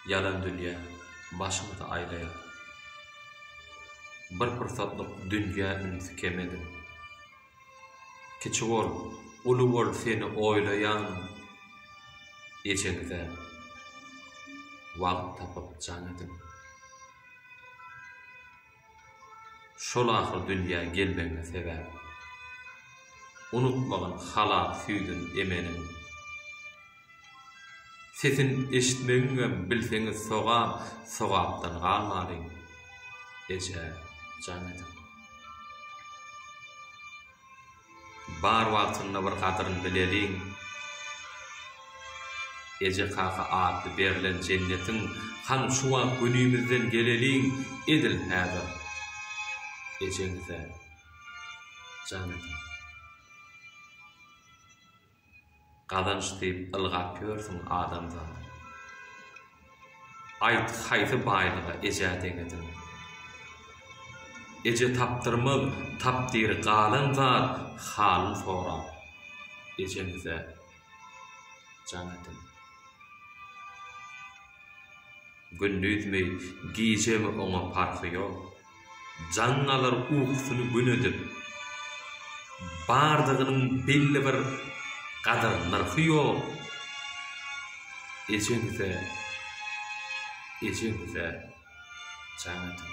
Ýalan dünýä başyňyzy aýlaýar. Bir pursatlyk dünýä ünsi kem ediň. Kiçi bol, uly bol seni oýlaýan ejeňize wagt tapyp jaň ediň. Şol ahyr dünýä gelmegiňe sebäp. Unutmagyn halap süýdün emeniň. Sesin eşitmegiňem bilseňiz sogap sogapdan galmalyň. Eje jan edip. Bar wagtynda bir gadyryn bileliň. Eje-kaka atly berlen jennetiň hany şu wagt günimizden geleliň edil häzir ejeňize jan ediň. Gazanç diýip ylgap ýörsüň adamzat. Aýt haýsy baýlyga eje deňedin. Eje tapdyrmaz tapdyr galan zat halyn sorap ejemize jaň edin. Gündizmi gijemi oňa parhy ýok. Jaň alar ukusyny gün edip. Bardygynyň belli bir gadyr-nyrhy ýok. Ejeňize, ejeňize jaň ediň.